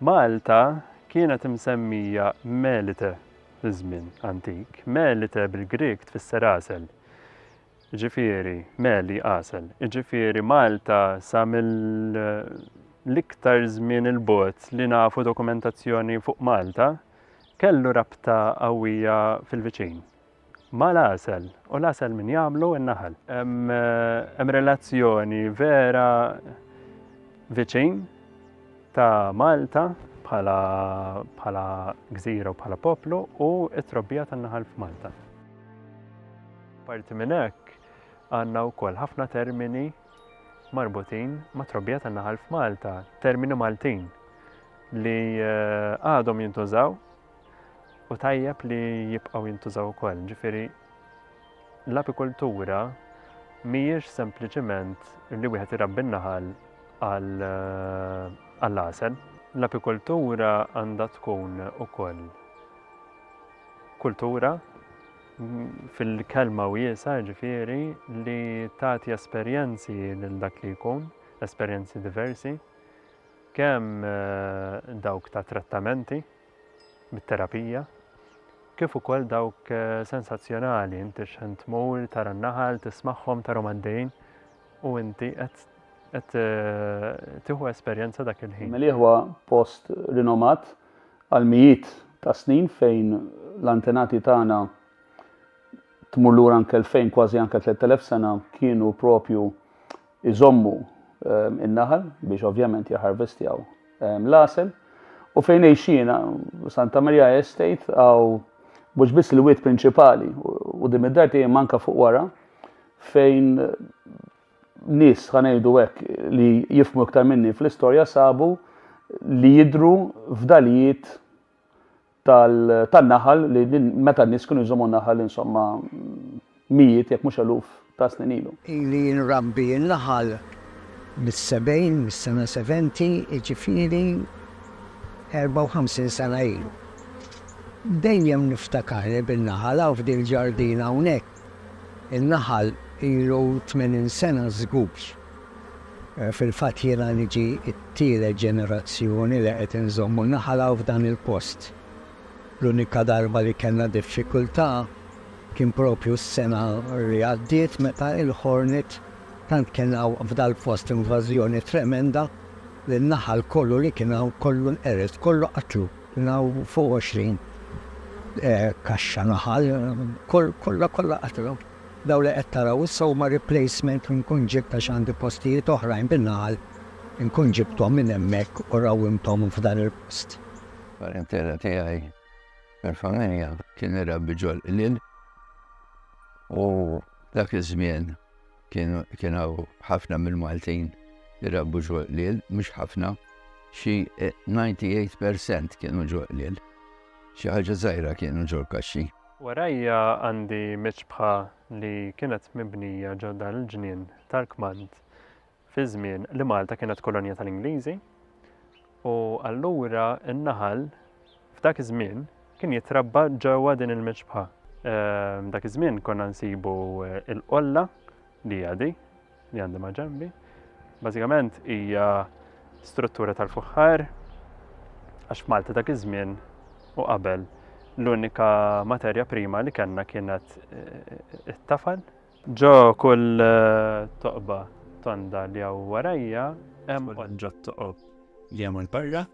Malta kienet imsemmija Melite fiż-żmien antik. Melite bil-Grieg tfisser għasel, jiġifieri meli għasel, jiġifieri Malta sa mill-iktar żmien il-bogħod li nafu dokumentazzjoni fuq Malta kellu rabta qawwija fil-viċin. Ma' l-għasel, u l-għasel min jagħmlu? In-naħal. Hemm relazzjoni vera viċin ta' Malta bħala gżira u bħala poplu u t-trobbija tan-naħal f'Malta. Apparti minn hekk, għandna wkoll ħafna termini marbutin mat-trobbija tan-naħal f'Malta, termini Maltin li għadhom jintużaw u tajjeb li jibqgħu jintużaw ukoll. Ġifieri l-apikultura mhijiex sempliċiment li wieħed irabbi n-naħal għall-għasel. Eh, l-apikultura għandha tkun ukoll kultura fil-kelma wiesa ġifieri li tagħti esperjenzi lil dak li jkun, esperjenzi diversi. kemm dawk ta' trattamenti bit-terapija, kif ukoll dawk sensazzjonali, inti x'ħin tmur tara n-naħal, tismagħhom, tarhom għaddejjin u inti qed qed tieħu esperjenza dak il-ħin. Meli huwa post rinomat għal mijiet ta' snin fejn l-antenati tagħna tmur lura anke l-fejn kważi anke 3000 sena kienu propju iżommu n-naħal biex ovvjament jaharvestjaw l-għasel. U fejn għejxina, Santa Maria Estate, għaw mux biss l-wiet prinċipali u dim id-dar tiegħi manka fuq wara fejn nis ħanejdu hekk li jifmu iktar minni fl-istorja sabu li jidru fdalijiet tan-naħal li meta n-nies kienu jżommu naħal insomma mijiet jekk mhux eluf ta' snin ilu. Ili nrabbi n-naħal mis-sebgħin, mis-sena seventy, jiġifieri 54 sena ilu. Dejjem niftakar li bin-naħal hawn f'dil-ġardina hawnhekk In-naħal ilu tmenin sena żgur. Fil-fatt jiena niġi t-tielet ġenerazzjoni li qed inżommu n-naħal hawn f'dan il-post. L-unika darba li kellna diffikultà kien propju s-sena li għaddiet meta il-ħornet tant kellna hawn f'dal-post invażjoni tremenda li n-naħal kollu li kien hawn kollu nqered, kollu qatlu. Kien hawn fuq għoxrin kaxxa naħal, kollha kollha qatlgħu. Dawn li qed taraw issa huma replacement li nkun ġibt għax għandi postijiet oħrajn bin-naħal, inkun ġibthom minn hemmhekk u rrawwimthom f'dan il-post. Parentela tiegħi mill-familja kien irabbi ġol-qliel u dak iż-żmien kien hawn ħafna mill-Maltin li rabbu ġoqliel, mhux ħafna, xi 98% kienu ġoqliel. Xi ħaġa żgħira kienu ġol kaxxi. Warajja għandi miċbħa li kienet mibnija ġo dan il-ġnien tal-kmand fi żmien li Malta kienet kolonja tal-Ingliżi u allura n-naħal F'dak iż-żmien kien jitrabba ġewwa din il-miċbħa. Dak iż-żmien konna nsibu l-qolla li hija di, li għandi ma' ġembi. Bażikament hija struttura tal-fuħħar għax Malta dak iż-żmien u qabel l-unika materja prima li kellna kienet eh, it-tafal. Ġo kull eh, toqba tonda li hawn warajja hemm ġo toqob li hemm il-barra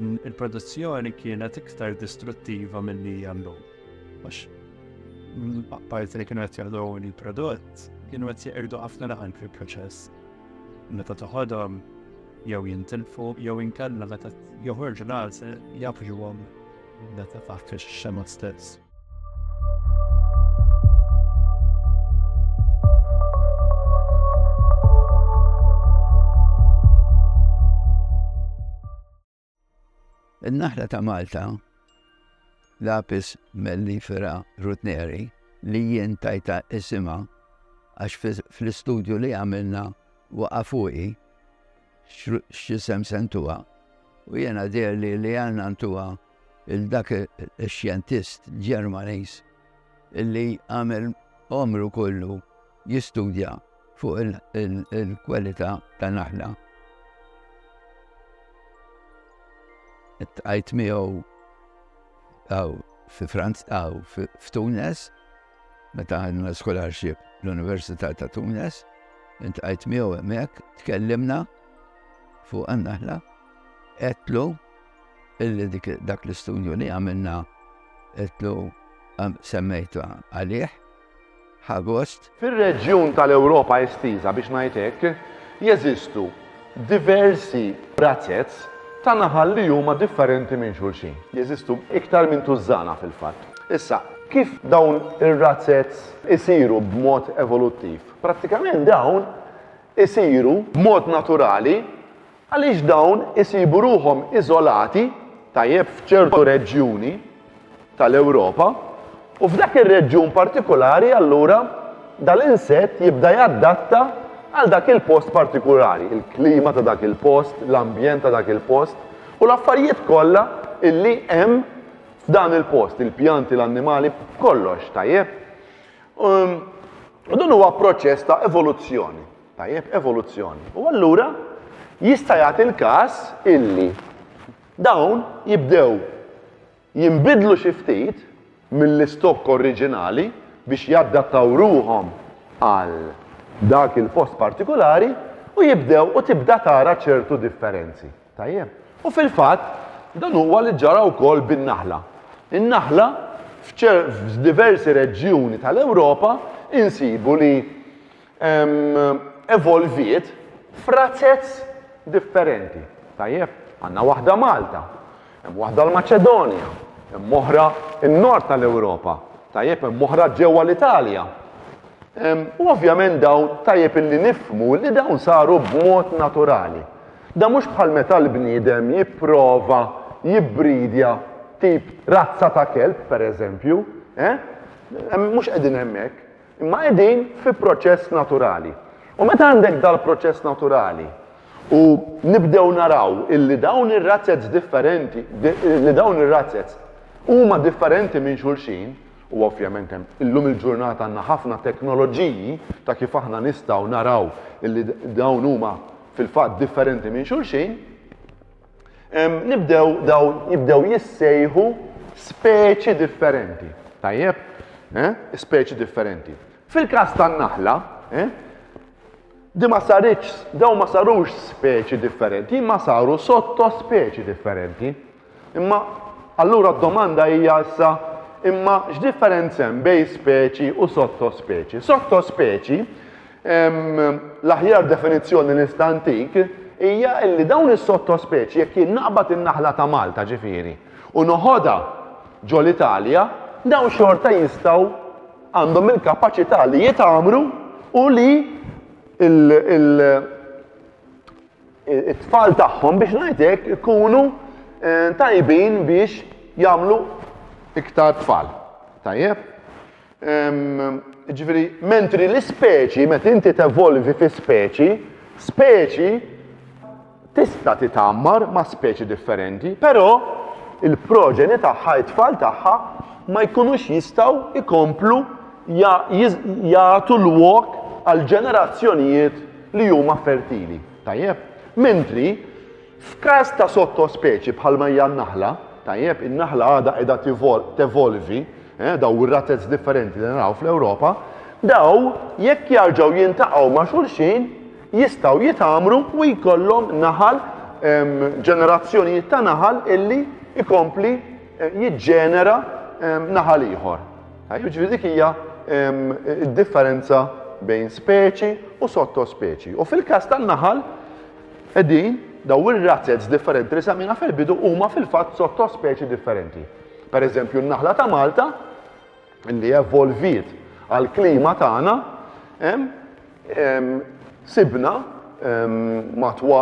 Il-produzzjoni kienet iktar distruttiva mill-li jallum. Għax, apparti li kienu għet jgħadu il-prodott, kienu għet jgħirdu għafna laħan fil-proċess. Meta toħodhom jew jintilfu jew inkella meta joħorġu l-għalse jafġuhom Data faħt ix-xema stess. Il-naħla ta' Malta, lapis mellifera rutneri, li jien tajta isima għax fl-istudju li għamilna waqa fuqi x'isem se ntuha. U jiena deherli li għandna ntuha il dak ix-xjentist Ġermaniż illi għamel għomru kollu jistudja fuq il-kwalità ta' naħla. Tqajt miegħu għaw fi Franz għaw f'Tunes Meta għandna scholarship l-Università ta' Tunis, intqajt miegħu hemmhekk, tkellimna fuq għannaħla, etlu illi dak l-istudju li għamilna etlu semmejtu għalih, ħagost. Fir-reġjun tal-Ewropa estiża biex ngħidlek, jeżistu diversi razez ta' naħal li huma differenti minn xulxin. Jeżistu iktar minn tużżana fil-fatt. Issa, kif dawn ir-razez isiru b'mod evoluttiv? Prattikament dawn isiru b'mod naturali għaliex dawn isibu ruħhom iżolati tajjeb f'ċertu reġjuni, tal-Ewropa, u f'dak ir-reġjun partikulari allura dal-insett jibda jadatta għal dak il-post partikulari, il-klima ta' dak il-post, l-ambjent ta' dak il-post, u l-affarijiet kollha illi hemm f'dan il-post, il-pjanti, l-annimali, kollox, tajjeb? Um, u dan huwa proċess ta' evoluzzjoni, tajjeb, evoluzzjoni. U allura jista' jagħti l-każ illi Dawn jibdew jinbidlu xi ftit mill-istokk oriġinali biex jadattaw ruħhom għal dak il-post partikulari u jibdew u tibda tara ċertu differenzi. Tajjeb? U fil-fatt, dan huwa li ġara wkoll bin-naħla. In-naħla f'diversi reġjuni tal-Ewropa insibu li evolviet f'razez differenti. Tajjeb, għandna waħda Malta, hemm waħda l-Maċedonja, hemm oħra n-nord tal-Ewropa, tajjeb hemm oħra ġewwa l-Italja. U ovvjament dawn tajjeb illi nifmu li dawn saru b'mod naturali. Da mhux bħal meta l-bniedem jipprova jibbridja tip razza ta' kelb, per eżempju, eh? Mhux qegħdin hemmhekk. Imma qegħdin fi proċess naturali. U meta għandek dal-proċess naturali u nibdew naraw illi dawn ir-razzets differenti, li dawn ir-razzets huma differenti minn xulxin, u ovvjament hemm illum il-ġurnata għandna ħafna teknoloġiji ta' kif aħna nistgħu naraw illi dawn huma fil-fatt differenti minn xulxin, Nibdew daw jibdew jissejħu speċi differenti. Tajjeb? Eh? Speċi differenti. Fil-każ tan-naħla, eh? di ma saritx, daw ma sarux speċi differenti, ma saru sotto speċi differenti. Imma allura d-domanda hija issa imma x'differenza hemm bejn speċi u sotto speċi? Sotto speċi L-aħjar definizzjoni li nista' ntik hija li dawn is-sottospeċi jekk jien naqbad in-naħla ta' Malta ġifieri u noħodha ġol-Italja, dawn xorta jistgħu għandhom il-kapaċità li jitgħammru u li it-tfal tagħhom biex ngħid hekk ikunu tajbin biex jagħmlu iktar tfal. Tajjeb? Ġifieri, mentri l-ispeċi, meta inti tevolvi fi speċi, speċi tista' titammar ma' speċi differenti, però il-proġeni tagħha, it-tfal tagħha, ma jkunux jistgħu ikomplu jagħtu l-wok għal ġenerazzjonijiet li huma fertili. Tajjeb? Mentri, f'każ ta' sottospeċi bħalma hija n-naħla, tajjeb, in-naħla għadha qiegħda tevolvi, dawn ir-rates differenti li naraw fl-Ewropa, dawn jekk jarġgħu jintaqgħu ma' xulxin jistgħu jitgħammru u jkollhom naħal ġenerazzjonijiet ta' naħal illi jkompli eh, jiġġenera naħal ieħor. Jiġifieri dik hija d-differenza bejn speċi u sottospeċi. U fil-każ tan-naħal qegħdin daw ir-razzets differenti li samina fil-bidu huma fil-fatt sottospeċi differenti. Per eżempju, n-naħla ta' Malta li evolviet għall-klima tagħna sibna matwa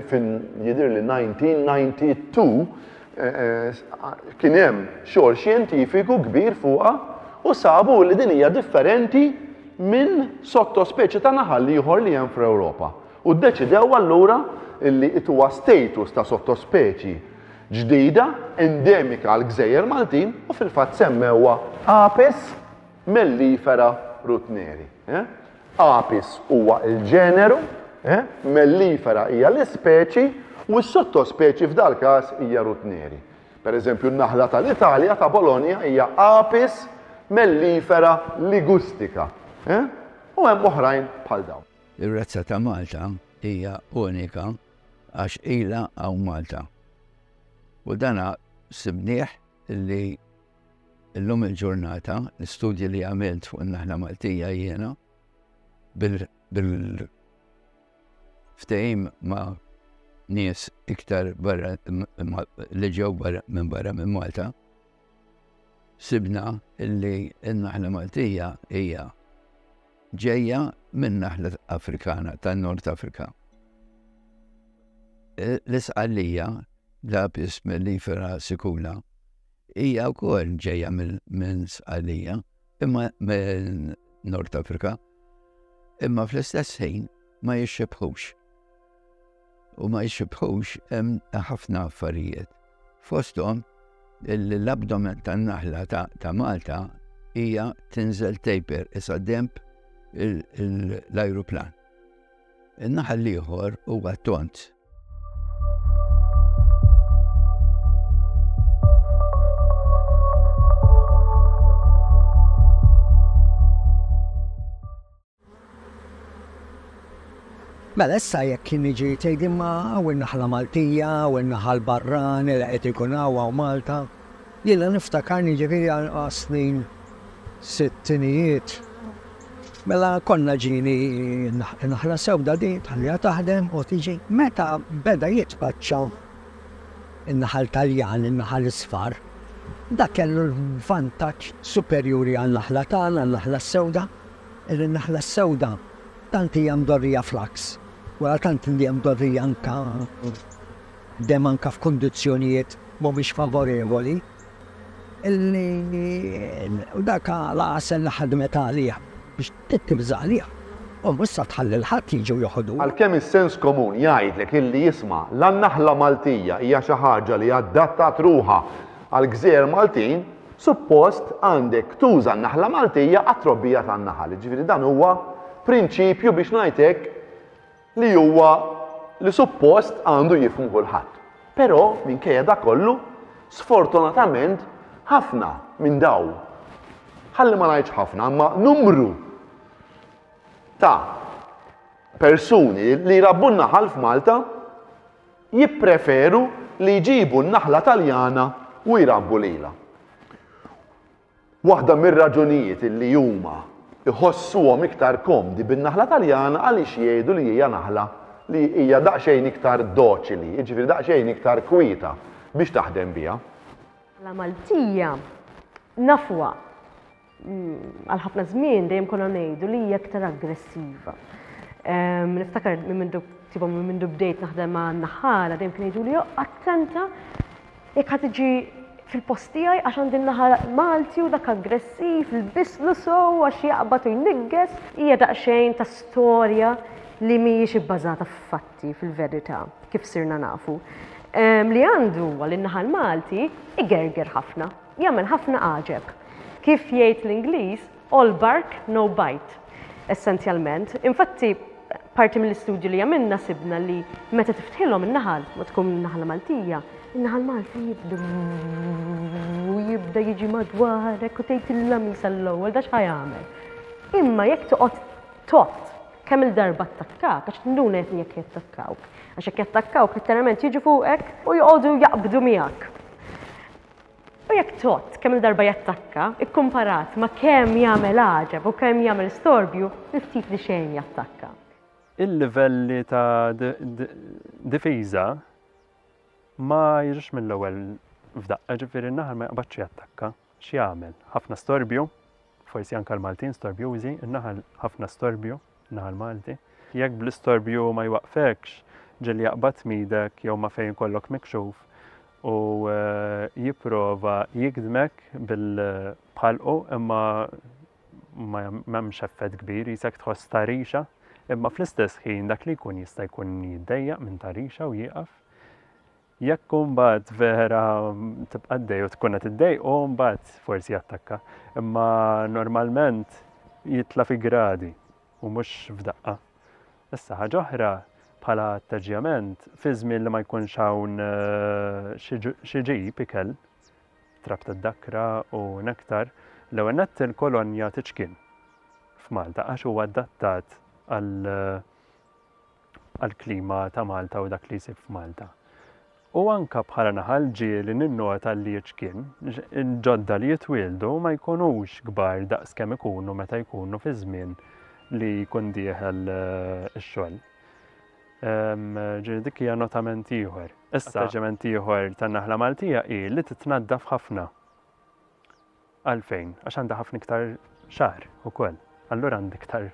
fin jidher li 1992 kien hemm xogħol xjentifiku kbir fuqha u sabu li din hija differenti minn sottospeċi ta' naħal ieħor li hemm fl-Ewropa. U ddeċidew allura li it-huwa status ta' sottospeċi ġdida endemika għall-gżejjer Maltin u fil-fatt semmewha Apis mellifera rutneri. Apis huwa l-ġeneru, mellifera hija l-ispeċi u s-sottospeċi f'dal-każ hija rutneri. Per eżempju, n-naħla tal-Italja ta' Bologna hija Apis mellifera ligustica u hemm oħrajn bħal dawn. Ir-razza ta' Malta hija unika. Għax ilha hawn Malta. U dan sibnieh li llum il-ġurnata, l-istudji li għamilt fuq in-naħla Maltija jiena, bil ftehim ma' nies iktar barra li ġew minn barra minn Malta, sibna li n-naħla Maltija hija Ġejja minn naħla Afrikana tan-Nord Afrika. E, l-isqallija l-apis mellifera sikula hija wkoll ġejja minn sqallija imma minn Nord Afrika imma fl-istess ħin ma jixxebħux. u ma jsibħux hemm ħafna affarijiet. Fosthom l-abdomen tan-naħla ta' Malta hija tinżel taper isa demp l-ajruplan. In-naħal l-ieħor huwa tont. Mela issa jekk kien jiġi tgħid imma hawn in-naħla Maltija, hawn in-naħa l-barrani li qed ikun hawn, hawn Malta. Jiena niftakarni jiġifieri għas-snin sittinijiet mela konna ġieni naħla sewda din tħalliha taħdem u tiġi meta beda jitpaċċa in-naħal Taljan, in-naħal isfar, dak kellu l-vantaġġ superjuri għan-naħla tagħna, għan-naħla sewda. Illi n-naħla s-sewda tant hija mdorrija fl-għaks, wara tant li hija mdorrija anke dehmm anke f'kundizzjonijiet mhumiex favorevoli, illi u dak l-għasel li ħadmet għalih biex tittib żgħalih, u mhux se tħalli lil ħadd jiġi u jeħodhu. Għalkemm is-sens komun jgħidlek illi isma' la n-naħla Maltija hija xi ħaġa li adattat ruħha għall-gżejjer Maltin, Suppost għandek tuża n-naħla Maltija għat-trobbija tan-naħal, jiġifieri dan huwa prinċipju biex ngħid hekk li huwa li suppost għandu jifhmu kulħadd. Però minkejja dak kollu, sfortunatament ħafna minn daw, ħalli ma ngħidx ħafna, imma numru ta' persuni li jrabbu n-naħal f'Malta jippreferu li jġibu n-naħla Taljana u jrabbu lilha. Waħda mir-raġunijiet li huma jħossuhom iktar komdi bin-naħla Taljana għaliex jgħidu li hija naħla li hija daqsxejn iktar doċili, jiġifieri daqsxejn iktar kwieta biex taħdem biha. Naħla Maltija nafuha għal ħafna żmien dejjem konna ngħidu li hija aktar aggressiva. Ehm, niftakar minn mindu tiba minn mindu bdejt naħdem ma' naħala dejjem kien jgħidu li attenta jekk ħad tiġi fil-post tiegħi għax għandi naħal Malti u dak aggressiv, il-bislu sow għax jaqbad u jnigges, hija daqsxejn ta' storja li mhijiex ibbażata f'fatti fil-verità kif sirna nafu. Ehm, li għandu għal in-naħal Malti igerger ħafna. Jagħmel ħafna għaġeb. Kif jgħid l-Ingliż, all bark, no bite, essenzjalment. Infatti, parti mill-istudju li għamilna sibna li meta tiftħilhom in-naħal, ma tkun naħla Maltija, in-naħal Malti jibda u jibda jiġi madwarek u tgħid il-lamis għall-ewwel dax ħajamel. Imma jekk toqgħod tot kemm il-darba attakkak, għax tinduna jekk jekk jattakkawk. Għax jekk jattakkawk, letteralment jiġu fuqek u joqogħdu jaqbdu miegħek. U jekk tott kemm-il darba jattakka, ikkumparat ma' kemm jagħmel għaġeb u kemm jagħmel storbju, il-ftit li xejn jattakka. Il-livelli ta' difiża ma jiġux mill-ewwel f'daqqa, ġifieri n-naħal ma jaqbadx jattakka. X'jagħmel? Ħafna storbju, forsi anke l-Maltin storbjużi, in-naħal ħafna storbju, in-naħa l-Malti. Jekk bl-istorbju ma jwaqqfekx ġieli jaqbad tmidek jew ma' fejn ikollok mikxuf u jipprova jigdmek bil-bħalqu imma ma hemmx effett kbir jisek tħoss ta' rixa imma fl-istess ħin dak li jkun jista' jkun jiddejjaq minn ta' rixa u jieqaf Jekk mbagħad vera tibqa' għaddej u tkun qed iddejqu, mbagħad forsi jattakka. Imma normalment jitla' fi gradi u mhux f'daqqa. Issa ħaġa oħra bħala attaġġjament fi żmien li ma jkunx hawn eh, xi ġib ikel, trab tad-dakra u nektar, l-ewwel nett il-kolonja tiċkien f'Malta għax huwa adattat għal eh, għall-klima ta' Malta u dak li jsib f'Malta. U anka bħala naħal ġieli ninnota li ċ-ċkien, il-ġodda li jitwieldu ma jkunux kbar daqs kemm ikunu meta jkunu fi żmien li jkun dieħel eh, ix-xogħol. Ehm, ġiri dik hija notament ieħor. Issa ġement ieħor tan-naħla Maltija hi li titnaddaf ħafna. Għalfejn? Għax għandha ħafna iktar xagħar ukoll. Allura għandha iktar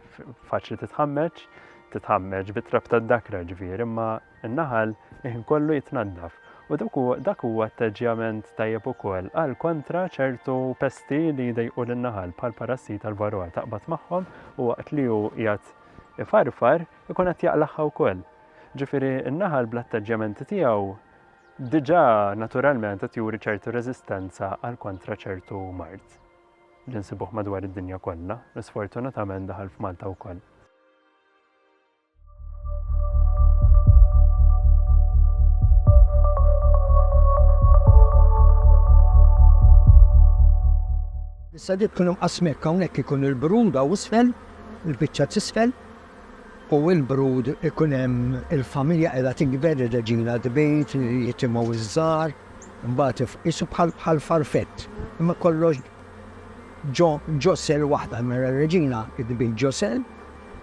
faċli titħammeġ, titħammeġ bit-trab tad-dakra ġifieri, imma n-naħal iħin kollu jitnaddaf. U dak huwa atteġġjament tajjeb ukoll għal kontra ċertu pesti li jdejqu lin-naħal bħal parassi tal-varroa taqbad magħhom u waqt li hu jgħat ifarfar ikun qed jaqlaħħa wkoll. Ġifieri n-naħal bl-atteġġjamenti tiegħu diġà naturalment qed juri ċertu reżistenza għal kontra ċertu mard li nsibuh madwar id-dinja kollha, li sfortunatament daħal f'Malta wkoll. Issa dik kienu qasmek hawnhekk ikun il-bruda u isfel, il-biċċa tisfel, u l-brud ikun hemm il-familja qiegħda tikber, ir-reġina tbid, jitimgħu ż-żgħar, imbagħad qisu bħal farfett, imma kollox ġo ġo sell waħda, mela r-reġina tbid ġo sell,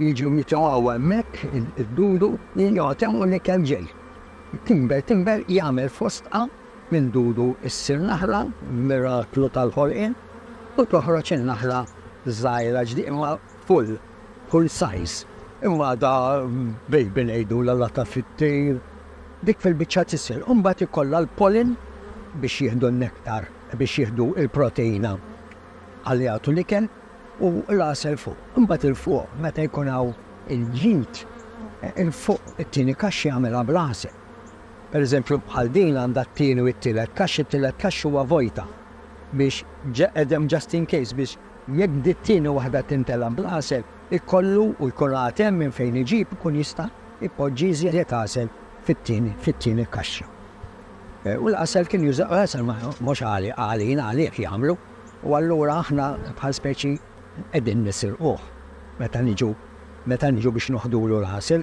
jiġu jitimgħu hemmhekk id-dudu, joqgħod hemm u l-ikel ġej. Tinber tinber jagħmel fostqa, minn dudu ssir naħla, miraklu tal-ħolqien, u toħroġ in-naħla żgħira ġdie imma full. kull sajż, imma għadha baby ngħidulha l-għata fit-tir, dik fil-biċċa t'isfel u mbagħad ikollha l-pollen biex jieħdu n-nektar, biex jieħdu l-proteina għal jagħtu l-ikel u l-għasel fuq. Imbagħad 'il fuq meta jkun hawn il-ġid, 'il fuq it-tieni kaxxa jagħmilha bl-għasel. Pereżempju bħal din għandha t-tieni u t-tielet kaxxa, it-tielet kaxxa huwa vojta biex hemm just in case biex Jekk dit-tieni waħda tintelgħa bl-għasel, ikollu u jkun għad hemm minn fejn iġib ikun jista' jpoġġi iżjed għasel fit-tieni fit-tieni kaxxa. U l-għasel kien juża għasel mhux għali għalin għalih jagħmlu u allura aħna bħal speċi qegħdin nisirquh meta niġu meta niġu biex noħdulu l-għasel.